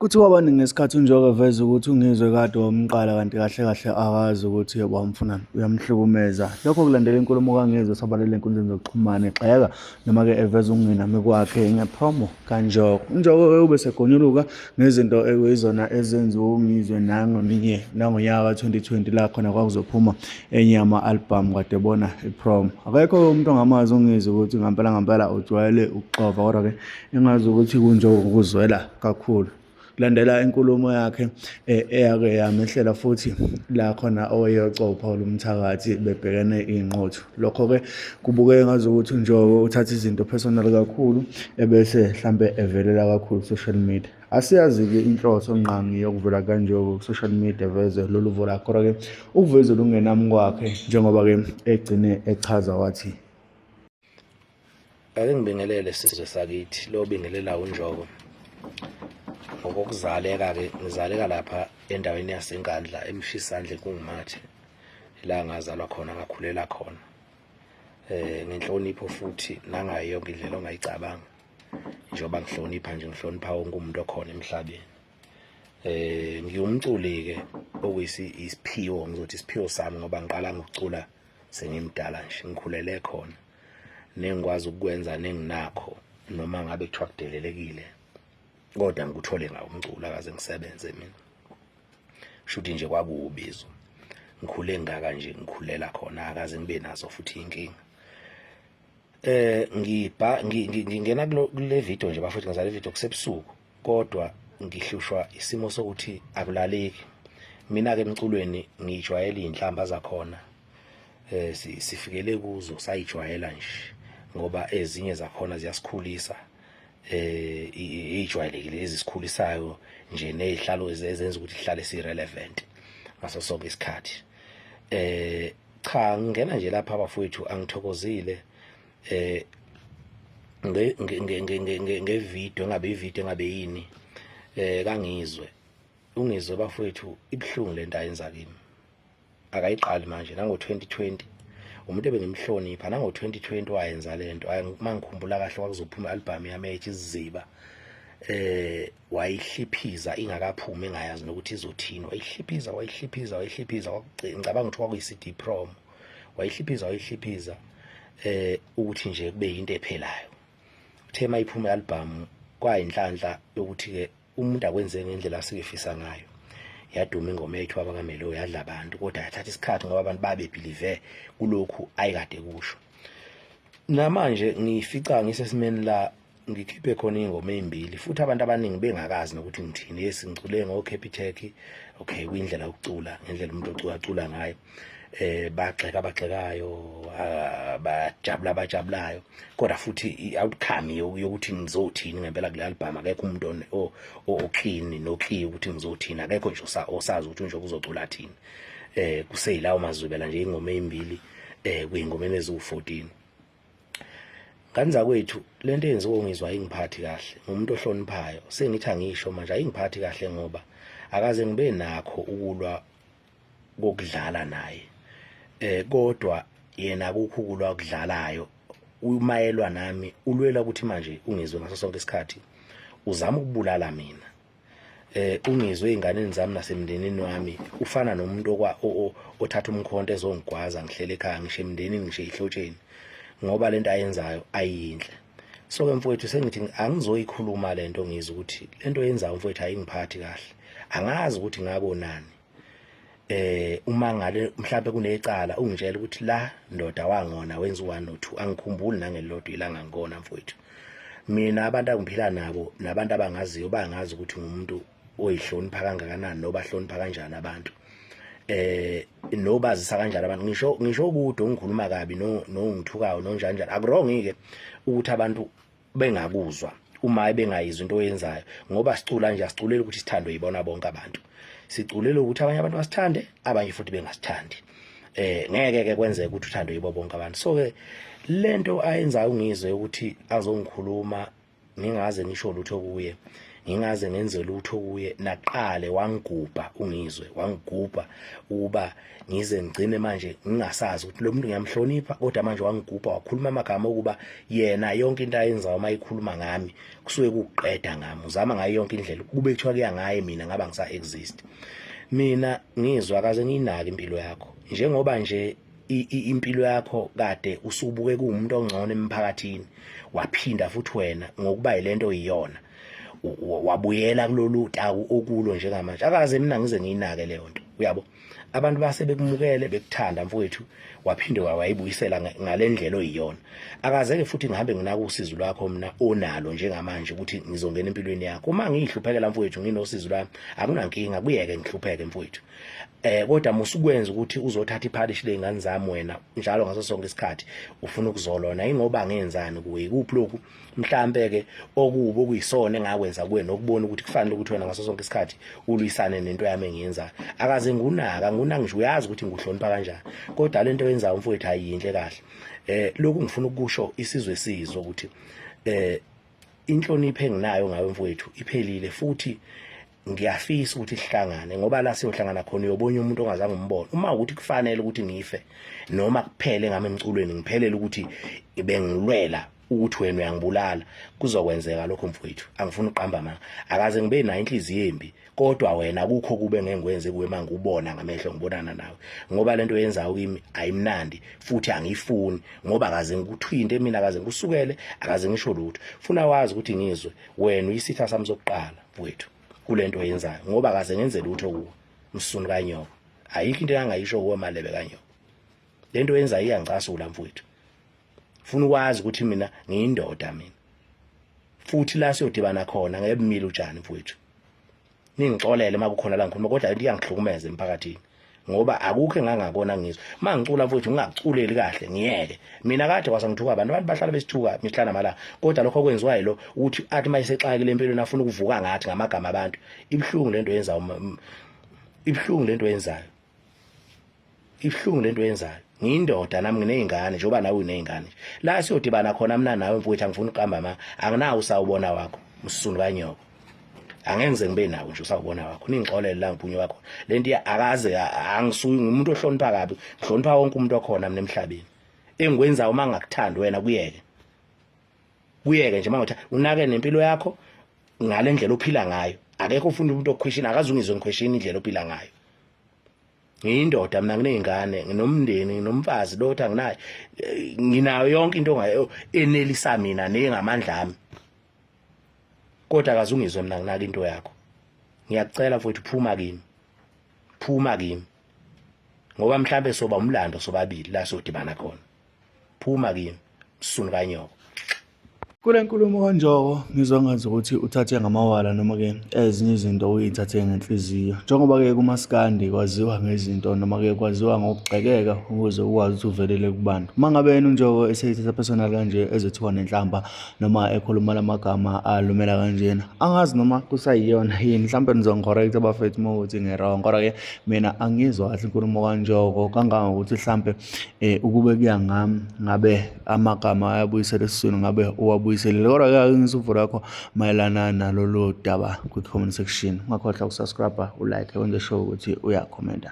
Kuthiwa abaningi ngesikhathi uNjoko eveza ukuthi uNgizwe kade wamqala kanti kahle kahle akazi ukuthi wamfunani, uyamhlukumeza. Lokho kulandela inkulumo kaNgizwe esabalele enkundleni zokuxhumana egxeka noma-ke eveza ukungenami kwakhe ngepromo kaNjoko. UNjoko-ke ube segonyuluka ngezinto ekuyizona ezenziwe uNgizwe nangolinye nangonyaka ka-2020 la khona kwakuzophuma enye yama-album kade bona ipromo. Akekho-ke umuntu ongamazi uNgizwe ukuthi ngampela ngampela ujwayele ukuxova kodwa-ke engazi ukuthi kuNjoko ukuzwela kakhulu landela inkulumo yakhe eh, eyake yamehlela futhi la khona oweyocopha olumthakathi bebhekene iy'nqotho lokho-ke kubukeke ngazi ukuthi unjoko uthatha izinto personal kakhulu ebese mhlampe evelela kakhulu social media asiyazi-ke inhloso ngqangi yokuvela kanjoko ku-social media veze lolu vo lakho kodwa-ke ukuvezela ukungenami kwakhe njengoba-ke egcine echaza wathi Ake ngibingelele sizwe sakithi lo bingelela unjoko ngokokuzaleka ke ngizaleka lapha endaweni yasenkandla emshisandle kungumathe la ngazalwa khona ngakhulela khona eh ngenhlonipho futhi nangayo yonke indlela ongayicabanga njengoba ngihlonipha nje ngihlonipha wonke umuntu okhona emhlabeni eh ngiwumculi ke okuyisi isiphiwo ngizothi isiphiwo sami ngoba ngiqala ngokucula sengimdala nje ngikhulele khona nengikwazi ukukwenza nenginakho noma ngabe kuthiwa kudelelekile kodwa ngikuthole ngawo umculo akaze ngisebenze mina shuthi nje kwakuwubizo ngikhule ngaka nje ngikhulela khona akaze ngibe nazo futhi inkinga eh ngibha ngingena kule video nje bafethu ngizale video kusebusuku kodwa ngihlushwa isimo sokuthi akulaleki mina-ke emculweni ngiyijwayele iy'nhlamba zakhona um sifikele kuzo sayijwayela nje ngoba ezinye zakhona ziyasikhulisa eh ijwayelekile ezisikhulisayo nje nezihlalo ezenza ukuthi ihlale si relevant ngaso sonke isikhathi eh cha ngingena nje lapha bafowethu angithokozile eh nge nge nge nge nge nge nge video ngabe ivideo ngabe yini eh kangizwe ungizwe bafowethu ibuhlungu lento ayenza kimi akayiqali manje nango 2020 umuntu ebengimhlonipha nango 2020 wayenza lento mangikhumbula kahle kwakuzophuma album yami ethi iziziba eh wayihliphiza ingakaphumi engayazi nokuthi izothini wayihliphiza wayihliphiza wayihliphiza ngicabanga ukuthi kwakuyi CD prom wayihliphiza wayihliphiza eh ukuthi nje kube yinto ephelayo uthe mayiphuma album kwayinhlanhla yokuthi ke umuntu akwenze ngendlela asikefisa ngayo yaduma ingoma yethu abakamelo yadla abantu kodwa yathatha isikhathi ngoba abantu babe believe kulokhu ayikade kusho namanje ngifica ngisesimeni la ngikhiphe khona ingoma ezimbili futhi abantu abaningi bengakazi nokuthi ngithini yes ngicule ngo Capitec okay kuyindlela yokucula ngendlela umuntu ocula acula ngayo eh bagxeka abagxekayo ah, bajabula abajabulayo kodwa futhi i-outcome yokuthi ngizothini ngempela kule album akekho umuntu oklini nokhiyi ukuthi ngizothini akekho nje osazi ukuthi nje kuzocula thini eh kuseyilawo mazwibela nje ingoma ezimbili eh kuyingoma eneziwu 14 Ngani zakwethu lento eyenziwa ungizwa ayingiphathi kahle ngumuntu ohloniphayo sengithi angisho manje ayingiphathi kahle ngoba akaze ngibe nakho ukulwa kokudlala naye eh kodwa yena akukho ukulwa okudlalayo umayelwa nami ulwela ukuthi manje ungizwe ngaso sonke isikhathi uzama ukubulala mina eh ungizwe einganeni zami nasemndenini wami ufana nomuntu okwa othatha umkhonto ezongigwaza ngihlele ekhaya ngisho emndenini ngisho ihlotsheni ngoba lento ayenzayo ayinhle so ke mfowethu sengithi angizoyikhuluma lento ngizwe ukuthi lento yenza mfowethu ayingiphathi kahle angazi ukuthi ngakonani eh uma ngale mhlawumbe kunecala ungitshela ukuthi la ndoda wangona wenza u1 no 2 angikhumbuli nangelodwa ilanga ngikona mfowethu mina abantu angiphila nabo nabantu abangaziyo bangazi ukuthi ngumuntu oyihlonipha kangakanani noba hlonipha kanjani abantu eh nobazisa kanjani abantu ngisho ngisho ukuthi ungikhuluma kabi no nongithukayo nonjani njani akurongike ukuthi abantu bengakuzwa uma ebengayizwa into oyenzayo ngoba sicula nje asiculeli ukuthi sithandwe yibona bonke abantu siculele ukuthi abanye abantu basithande abanye futhi bengasithandi eh ngeke ke kwenzeke ukuthi uthandwe yibo bonke abantu so ke lento ayenzayo ngizwe ukuthi azongikhuluma ngingaze ngisho lutho kuye ngingaze ngenze lutho kuye naqale wangigubha ungizwe wangigubha ukuba ngize ngigcine manje ngingasazi ukuthi lo muntu ngiyamhlonipha kodwa manje wangigubha wakhuluma amagama okuba yena yonke into ayenzayo uma ikhuluma ngami kusuke kuqeda ngami uzama ngayo yonke indlela kube kuthiwa kuya ngaye mina ngaba ngisa exist mina ngizwa kaze ngiyinaki impilo yakho njengoba nje impilo yakho kade usubuke kuwumuntu ongcono emphakathini waphinda futhi wena ngokuba yilento iyona wabuyela kulolu taku okulo njengamanje akaze mina ngize ngiyinake leyo nto uyabo abantu base bekumukele bekuthanda mfowethu waphinde wayibuyisela ngalendlela oyiyona akazeke futhi ngihambe nginaka usizo lwakho mina onalo njengamanje ukuthi ngizongena empilweni yakho uma ngihluphekela mfowethu nginosizo lwami akunankinga kuyeke ngihlupheke mfowethu eh kodwa musukwenza ukuthi uzothatha ipharish lezingane zami wena njalo ngaso sonke isikhathi ufuna ukuzolona ingoba ngenzani kuwe kuphi lokhu mhlambe ke okubo okuyisona engakwenza kuwe nokubona ukuthi kufanele ukuthi wena ngaso sonke isikhathi ulwisane nento yami engiyenzayo akaze ngunaka nguna ngisho uyazi ukuthi nguhlonipha kanjani kodwa lento yenzayo mfowethu ayinhle kahle eh lokhu ngifuna ukusho isizwe sizwe ukuthi eh inhlonipho enginayo ngawe mfowethu iphelile futhi ngiyafisa ukuthi sihlangane ngoba la siyohlangana khona uyobona umuntu ongazange umbone uma ukuthi kufanele ukuthi ngife noma kuphele ngami emculweni ngiphelele ukuthi bengilwela ukuthi wena uyangibulala kuzokwenzeka lokho mfowethu angifuni uqamba manga akaze ngibe nayo inhliziyo embi kodwa wena kukho kube ngengwenze kuwe manje ubona ngamehlo ngibonana nawe ngoba lento yenzayo kimi ayimnandi futhi angiyifuni ngoba akaze ngikuthwinte mina akaze ngikusukele akaze ngisho lutho funa wazi ukuthi ngizwe wena uyisitha sami sokuqala wethu kulento oyenzayo ngoba kaze ngenze lutho kuwe msunu kanyoko ayikho into engayisho kuwe malebe kanyoko lento oyenzayo iyangicasula mfowethu funa ukwazi ukuthi mina ngiyindoda mina futhi la siyodibana khona ngebumile utshani mfowethu ningixolele makukhona la ngikhuluma kodwa into iyangihlukumeza emphakathini ngoba akukho engangakona ngizwe uma ngicula mfowethu ngingakuculeli kahle ngiyeke mina kade kwasa ngithuka abantu abantu bahlala besithuka mihla namalanga kodwa lokho okwenziwa yilo ukuthi athi uma esexakile empilweni afuna ukuvuka ngathi ngamagama abantu ibuhlungu lento yenza ibuhlungu lento yenzayo ibuhlungu lento yenzayo ngiyindoda nami nginezingane njengoba nawe unezingane la siyodibana khona mina nawe mfowethu angifuni uqamba ma anginawo usawubona wakho msunu kanyoko angeke ngize ngibe nawo nje usawubona wakho ningixolele la ngiphunywe wakho lento akaze angisuyi ngumuntu ohlonipha kabi ngihlonipha wonke umuntu okhona mina emhlabeni engikwenza uma ngakuthandi wena kuyeke kuyeke nje mawutha unake nempilo yakho ngale ndlela ophila ngayo akekho ufunda umuntu okhwishini akazungizwe ngikhwishini indlela ophila ngayo ngiyindoda mina nginezingane nginomndeni nginomfazi lotha nginayo nginayo yonke into enelisa mina nengamandla ami kodwa akazungizwe mina nginaka into yakho ngiyakucela mfowethu phuma kimi phuma kimi ngoba mhlambe soba umlando sobabili la sodibana khona phuma kimi msunu kanyoko kule nkulumo kanjoko ngizwa ngazi ukuthi uthathe ngamawala noma-ke ezinye izinto uyithathe ngenhliziyo njengoba-ke kumasikandi kwaziwa ngezinto noma-ke kwaziwa ngokugxekeka ukuze ukwazi ukuthi uvelele kubantu uma ngabe yena unjoko eseyithatha personal kanje ezothiwa nenhlamba noma ekhuluma la magama alumela kanjena angazi noma kusayiyona yini mhlawumbe nizongicorrect abafethu uma ukuthi ngi-wrong kodwa-ke mina angizwa kahle inkulumo kanjoko kangangokuthi mhlawumbe um ukube kuya ngami ngabe amagama ayabuyisela esiswini ngabe uwabuyiselile kodwa-ke ake ngisuvu lakho mayelana nalolu daba kwi-comment section ungakhohlwa ukusubscribe ulike wenze sure ukuthi uyakhomenta